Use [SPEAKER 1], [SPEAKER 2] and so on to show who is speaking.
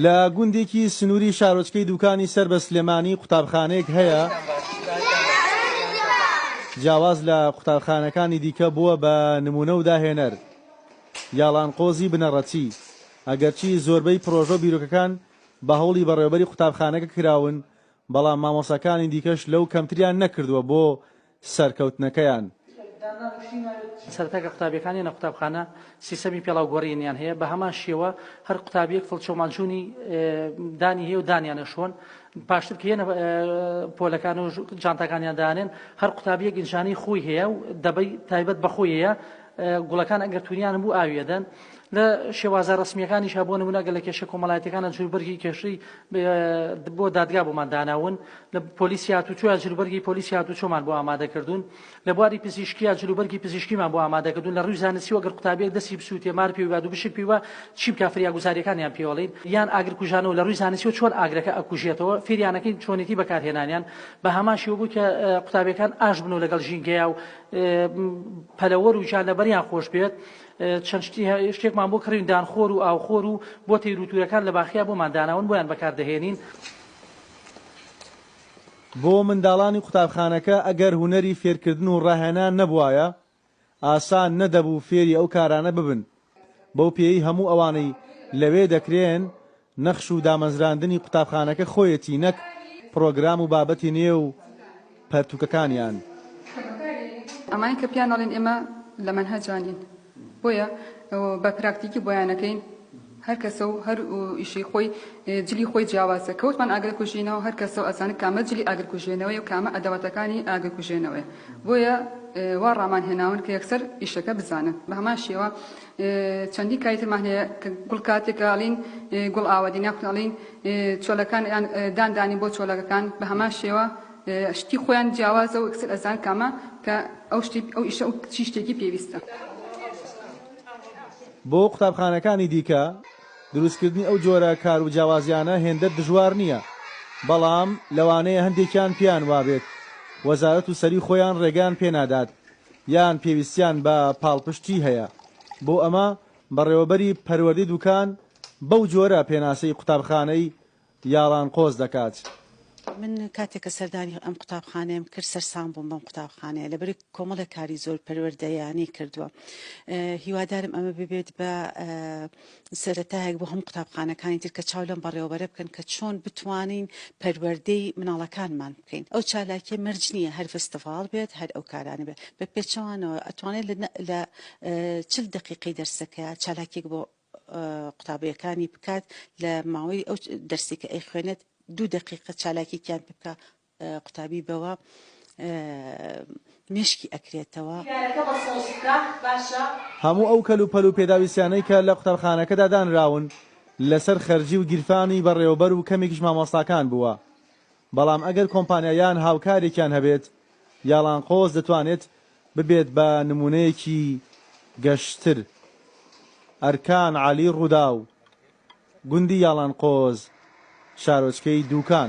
[SPEAKER 1] لە گوندێکی سنووری شارۆچکەی دووکانی سەر بە سلێمانی قوتابخانەیەک هەیە جیاواز لە قوتابخانەکانی دیکە بووە بە نموونە و داهێنەر یاڵانقۆزی بنەڕەتی ئەگەرچی زۆربەی پرۆژە و بیرۆکەکان بە هەوڵی بەڕێوەبەری قوتابخانەکە کراون بەڵام مامۆستاکانی دیکەش لەو کەمتریان نەکردووە بۆ سەرکەوتنەکەیان.
[SPEAKER 2] سەرەتای کە قوتابیەکان یەنە قوتابخانە سیستەمی پێڵاو گۆرینیان هەیە بە هەمان شێوە هەر قوتابیەک فڵچەو ماجونی دانی هەیە و دانیانە شۆن پاشتر کە یەنە پۆلەکان و جانتاکانیان دانێن هەر قوتابیەک ئینجانی خۆی هەیە و دەبەی تایبەت بە خۆی هەیە گوڵەکان ئەگەر تونیان بوو ئاوی ئەدەن لە شێوازە ڕەسمیەکانیش هەبوو نمونە گەلە کێشە کۆمەڵایەتەکانە جوربەرگی کێشەی بۆ دادگا بۆمان داناون لە پۆلیسی هاتوچۆیا جلوبەرگی پۆلیسی هاتوچۆمان بۆ ئامادە کردوون لە بواری پزیشکیا جلوبەرگی پزیشکیمان بۆ ئامادە کردوون لە ڕووی زانستی وەگەر قوتابیەک دەستی بسووتێ مار پێوی باد و بشک پێوە چی بکە فریاگوزاریەکانیان پێوەڵین یان ئاگر کوژانەوە لە ڕووی زانستی و چۆن ئاگرەکە ئەکوژێتەوە فێریانەکەین چۆنێتی بەکارهێنانیان بە هەمان شێوە بوو کە قوتابیەکان ئاش بن و لەگەڵ ژینگەیە و پەلەوەر و ژان لەبەریان خۆش بێت چەند شتێکمان بۆ کڕین دانخۆر و ئاوخۆر و بۆ تێروتورەکان لە باخیا بۆمان داناون بۆیان بەکاردەهێنین
[SPEAKER 1] بۆ منداڵانی قوتابخانەکە ئەگەر هونەری فێرکردن و ڕاهێنان نەبوایە، ئاسان نەدەبوو فێری ئەو کارانە ببن، بەو پێیەی هەموو ئەوانەی لەوێ دەکرێن، نەخش و دامەزراندنی قوتابخانەکە خۆیەتی نەک پڕۆگرام و بابەتی نوێ و، پەرتووکەکانیان.
[SPEAKER 3] ئەمانەی کە پێیان ئەڵێین ئێمە لە مەنهەجا نین بۆیە بە پراکتیکی بۆیان ئەکەین هەر کەسە و هەر ئیشەی خۆی جلی خۆی جیاوازە کەوتمان ئاگرکوژینەوە هەر کەسە و ئەزانێت کامە جلی ئاگرکوژێنەوەی و کامە ئەدەواتەکانی ئاگرکوژێنەوەیە بۆیە وا ڕامان هێناون کە یەکسەر ئیشەکە بزانن بە هەمان شێوە چەندین کاری ترمان هەیە کە گوڵ کاتێک ئەڵین گوڵ ئاوەدین یاخود ئەڵین چۆلەکان یان دان دانین بۆ چۆلەکەکان بە هەمان شێوە شتی خۆیان جیاوازە و ئەکسەر ئەزان کامە کە ئەو شتی ئەو ئیشە و چی شتێکی پێویستە.
[SPEAKER 1] بۆ قوتابخانەکانی دیکە دروستکردنی ئەو جۆرە کار و جیاوازیانە هێندە دژوار نییە، بەڵام لەوانەیە هەندێکیان پێیان وابێت وەزارەت و سەری خۆیان ڕێگەیان پێنادات یان پێویستیان بە پاڵپشتی هەیە، بۆ ئەمە بەڕێوەبەری پەروەردەی دوکان بەو جۆرە پێناسەی قوتابخانەی یاڵان قۆز دەکات. من
[SPEAKER 4] کاتێک کە سەردانی ئەم قوتابخانەیەم کرد سەرسام بووم بەم قوتابخانەیە لەبەرئەوەی کۆمەڵێک کاری زۆر پەروەردەییانەی کردووە هیوادارم ئەمە ببێت بە سەرەتایەک بۆ هەموو قوتابخانەکانی تر کە چاو لەم بەڕێوەبەرە بکەن کە چۆن بتوانین پەروەردەی مناڵەکانمان بکەین ئەو چالاکیە مەرج نییە هەر فستیڤاڵ بێت هەر ئەو کارانە بێت بە پێچەوانەوە ئەتوانێت لە لە چل دقیقەی دەرسەکە چالاکیەک بۆ قوتابیەکانی بکات لە ماوەی ئەو دەرسی کە ئەیخوێنێت دوو دقیقە چالاکیکیان پێ بکە قوتابی بەوە مێشکی ئەکرێتەوە. دیدارەکە بە سەوز
[SPEAKER 1] بکە باشە. هەموو ئەو کەل و پەل و پێداویستیانەی کە لە قوتابخانەکەدا دانراون لەسەر خەرجی و گیرفانی بەڕێوەبەر و کەمێکیش مامۆستاکان بووە بەڵام ئەگەر کۆمپانیا یان هاوکارێکیان هەبێت یاڵانقۆز دەتوانێت ببێت بە نموونەیەکی گەشتر ئەرکان عەلی ڕووداو، گوندی یاڵانقۆز شارۆچکەی دووکان.